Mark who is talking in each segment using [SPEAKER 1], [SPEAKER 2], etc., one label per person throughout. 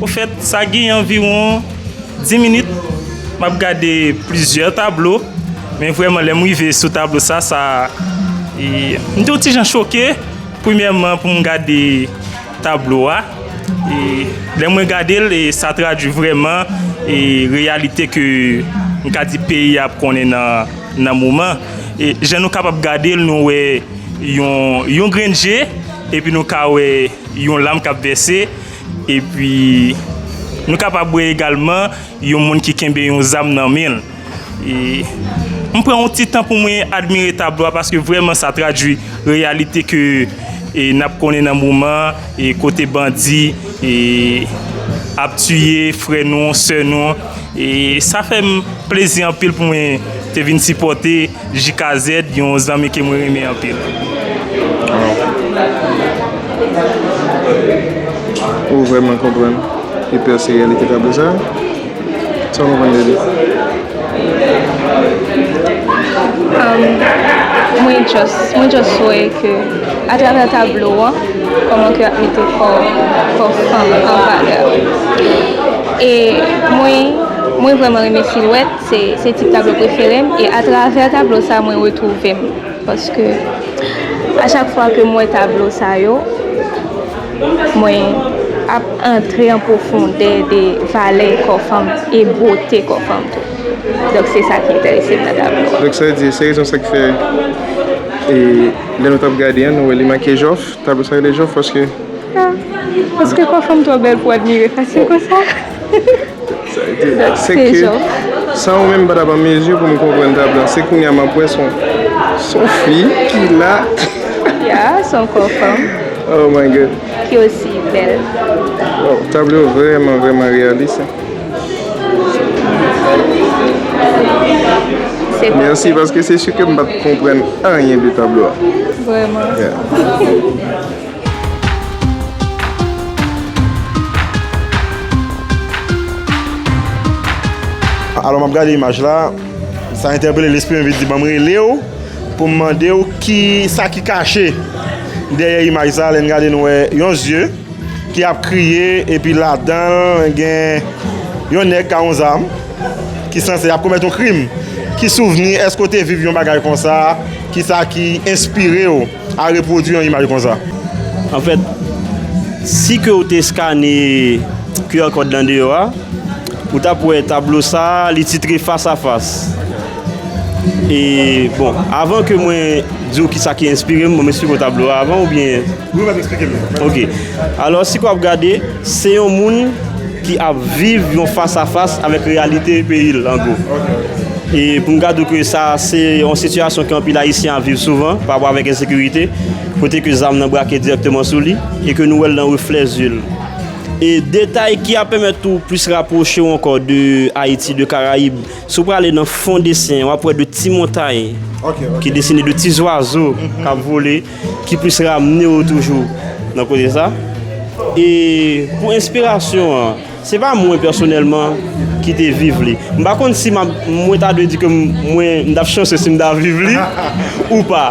[SPEAKER 1] Ofèt sa gen anviwon 10 minit m ap gade plizyè tablo men vrèman lè m rive sou tablo sa sa m te yon ti jan choke premyèman pou m gade Tablo a, lè mwen gade l, sa tradui vrèman reyalite ke m ka di peyi a ap konnen nan moman. Jan nou kapab gade l, nou wè yon grenn je, epi nou ka wè yon lam k ap vèse, epi nou kapab wè egalman yon moun ki kenbe yon zam nan men l. E m pran yon ti tan pou mwen admire tablo a paske vrèman sa tradui reyalite ke n ap konnen nan moman an e kote bandi e ap tiye frè nou, sè nou. E sa fè m plezi anpil pou mwen te vin sipòte. JKZ yon zanmi ke mwen renmen anpil.
[SPEAKER 2] Ou vreman konprann Hyper se reyalite tablo sa? Sa ou konprann de li?
[SPEAKER 3] Mwen just mwen just wè ke a travè tablo an kòman ke yap mete kò kò fanm an valè e mwen mwen vreman renmen silwèt. Se tip tablo prefere m e atravè tablo sa mwen retwouve m paske a chak fwa ke m wè tablo sa yo mwen ap antre an pwofondè de valè kò fanm e bote kò fanm tou donk se sa ki enterese m nan tablo a. Donk sa vle di se rezon sa ki
[SPEAKER 2] fè e lè nou t ap gade an nou wè li make jòf tablo sa rele jòf paske.
[SPEAKER 3] Paske kò fanm twò bèl pou admire fasil konsa.
[SPEAKER 2] San ou menm m pa t ap an mezi pou m konprann tab la. Se kounye a m ap wè se yon fi ki la. Ya, se
[SPEAKER 3] yon kò fanm. Oh my God.
[SPEAKER 2] Ki osi
[SPEAKER 3] bèl. Waww,
[SPEAKER 2] tablo yo vrèman vrèman reyalis. Mèsi paske se si ke m pa t konprann anyen de tablo a. Vrèman.
[SPEAKER 4] Alò map gade imaj la, sa entèpele lespri mwen vin di banm relew poum mandew ki sa ki kache dèyè imaj sa lèn gade nou wè yon zye ki ap kriye epi ladanl gen yon nèg ka yon zam ki sanse ap komèt yon krim ki souvni eske ou te viv yon bagay konsa ki sa ki enspirew. A repwodui yon imaj konsa. Anfèt,
[SPEAKER 5] si ke ou te eskane QR kòd lan deyò a, ou t ap wè tablo sa a, li titre Fas a Fas. E, bon, avan ke mwen di ou kisa ki enspire m, bon m esplike ou tablo a avan oubyen? Wi, w ap esplike m.
[SPEAKER 4] Ok.
[SPEAKER 5] Alò, si ke w ap gade, se yon moun. ki ap viv yon fas a fas avèk reyalite peyi l an gwo e pou n gad ou ke sa se yon sitiyasyon ke anpil ayisyen ap viv souvan pa rapò avèk ensekirite kote ke zam nan brake dirèkteman sou li e ke nou wè l nan reflè zye l e detay ki ap pèmèt tou plis rapwoche w ankò de ayiti de karayib si w prale nan fon desen w ap wè de ti montay ki desine de ti zwazo k ap vole. Ki plis ramne ou toujou nan koze sa. E pou enspirasyon an, se pa mwen pèsonèlman ki te viv li. M pa konn si mwen ta dwe di ke mwen ta chanse si m ta viv li ou pa.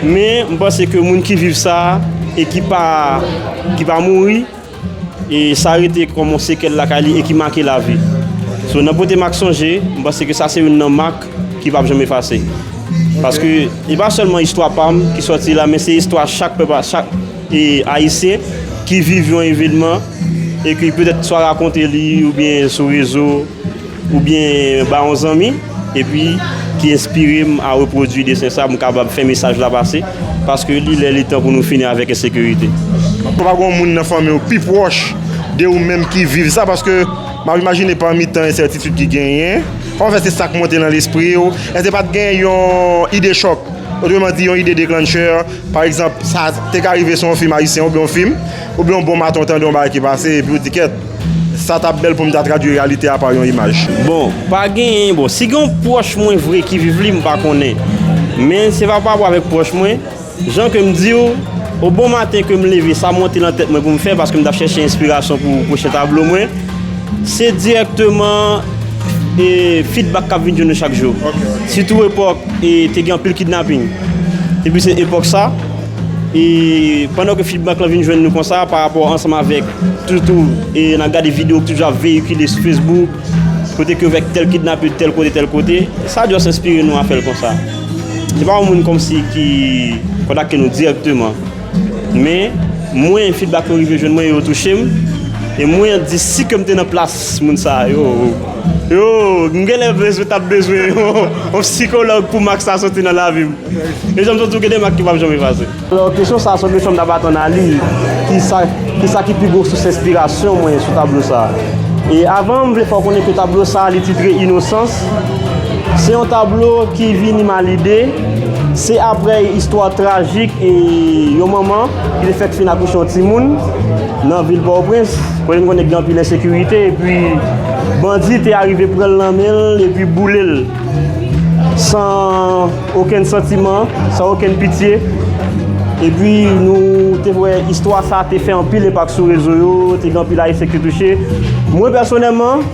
[SPEAKER 5] Men, m panse ke moun ki viv sa e ki pa mouri. e sa rete kòm yon sekèl lakay li e ki make lavi so nan pote mak sonje m panse ke sa se youn nan mak ki pap janm efase paske e pa sèlman istwa pa m ki sòti la men se istwa chak pèp chak ayisyen ki viv yon evenman e ki petèt swa rakonte li oubyen sou rezo. oubyen ba yon zanmi epi ki enspire m a repwodui desen sa pou m kapab fè mesaj la pase paske li lè li tan pou nou fini avèk ensekirite. Èske pa gen yon
[SPEAKER 4] moun nan fanmi w pi pwòch de ou menm ki viv sa paske m ap imajine pami tan ensètitid ki genyen pa fè se sa k monte nan lespri w èske pa t gen yon ide chòk otreman di yon ide deklanchè pa egzanp sa te ka rive se yon fim ayisyen oubyen yon fim oubyen yon bon maten w tande yon bagay ki pase epi w di kèt Sa tap bèl pou m ta tradwi reyalite a pa yon imaj. Bon, pa genyen,
[SPEAKER 5] bon, si gen yon pwòch mwen vre ki viv li, m pa konnen. Men, se pa parapò avèk pwòch mwen. Jan ke m di ou, o bon maten ke m leve, sa monte nan tèt mwen pou m fè, paske m tap chèche enspirasyon pou pwochen tablo mwen, se dirèkteman e fidbak kap vin jwenn ou chak jou. Sitou epòk e te gen anpil kidnaping. Depi se epòk sa. E pandan ke feedback lan vin jwenn nou konsa pa rapò ansanm avèk toutou e n ap gade video ki toujou ap veyikile sou Facebook kote ke yo vek tèl kidnape tèl kote tèl kote sa just enspire nou a fè l konsa. Se pa yon moun kòmsi ki kontakte nou dirèkteman men mwen feedback yo rive jwenn mwen e yo touche m e mwen di si ke m te nan plas moun sa yo yo m genlè bezwen ta bezwen yon psikològ pou mak sa soti nan lavi m. E janm sot di w gen de mak ki pap janm efase. Alò kesyon sa a se yon kesyon m t ap atann a li, kisa ki pi gwo sous enspirasyon mwen sou tablo sa a? E avan m vle fè w konnen ke tablo sa a li titre Inosans, se yon tablo ki vini m a lide, se aprè istwa trajik yon manman ki te fèk fin akouche yon timoun nan vil Pòtoprens, kote nou konnen gen anpil ensekirite epi bandi te arive pran l nan men l epi boule l. san okenn santiman, san okenn pitye. Epi nou te wè istwa sa te fè anpil enpak sou rezo yo, te gen anpil Ayisyen ki te touche. Mwen pèsonèlman,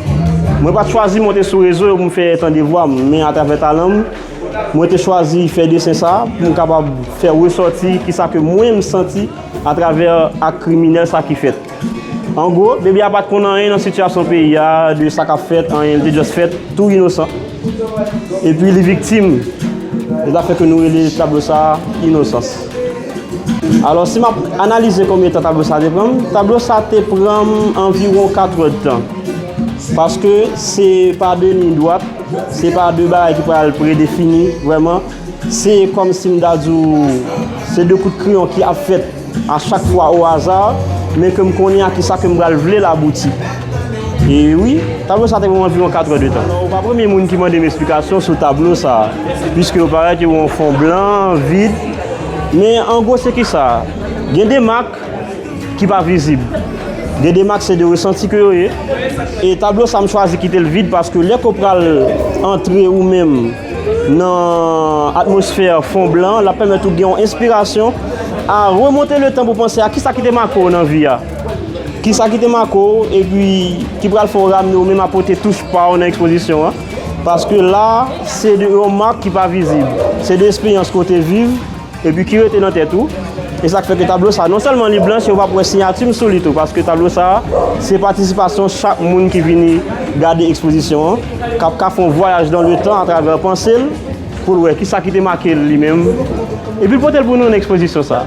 [SPEAKER 5] mwen pa t chwazi monte sou rezo yo pou m fè tande vwa m, men atravè talan m, mwen te chwazi fè desen sa pou m kapab fè resòti kisa ke mwen m santi atravè ak kriminèl sa ki fèt. An gwo, bebe a pat konn anyen nan sitiyasyon peyi a, de sa kap fèt, anyen, li te just fèt tou inosan. Epi li viktim de zafè ke nou rele tablo sa a inosans. Alò si map analize konbyen tan tablo sa a te pranm, tablo sa a te pranm anviwon 4 heures de tan. Paske se pa de liy dwat, se pa de bagay ki pral predefini vrèman, se kòm sim ta di w, se de kout kreyon ki ap fèt. A chak fwa au hasard, men ke m konnen a kisa ke m pral vle l abouti. E wi, tablo sa te pran m anviwon 4 è de tan. Ou pa premye moun ki mande m esplikasyon sou tablo sa, piske yo parèt yo yon fon blan, vid. Men an gwo se kisa? Gen de mak ki pa vizib. Gen de mak se de resanti ke yo ye. E tablo sa m chwazi kite l vid paske lè ke w pral antre ou menm. Nan atmosfè fon blan, l ap pèmèt ou gen yon enspirasyon a remonte le tan pou panse a kisa ki te make w nan vi a. Kisa ki te make w epi ki pral fè w ramne w menm a pote touch pa w nan ekspozisyon an. Paske la, se de yon mak ki pa vizib. Se de esperyans ke w te viv. Epi ki rete nan tèt ou. E sa k fè ke tablo sa a, non sèlman li blanch, e ou pap wè siyati m sou li tou, paske tablo sa a, se patisipasyon chak moun ki vini gade ekspozisyon an, k ap ka fè yon vwayaj dan le tan atravè panse l, pou l wè ki sa ki te make l li menm, epi l pote l pou nou nan ekspozisyon sa a.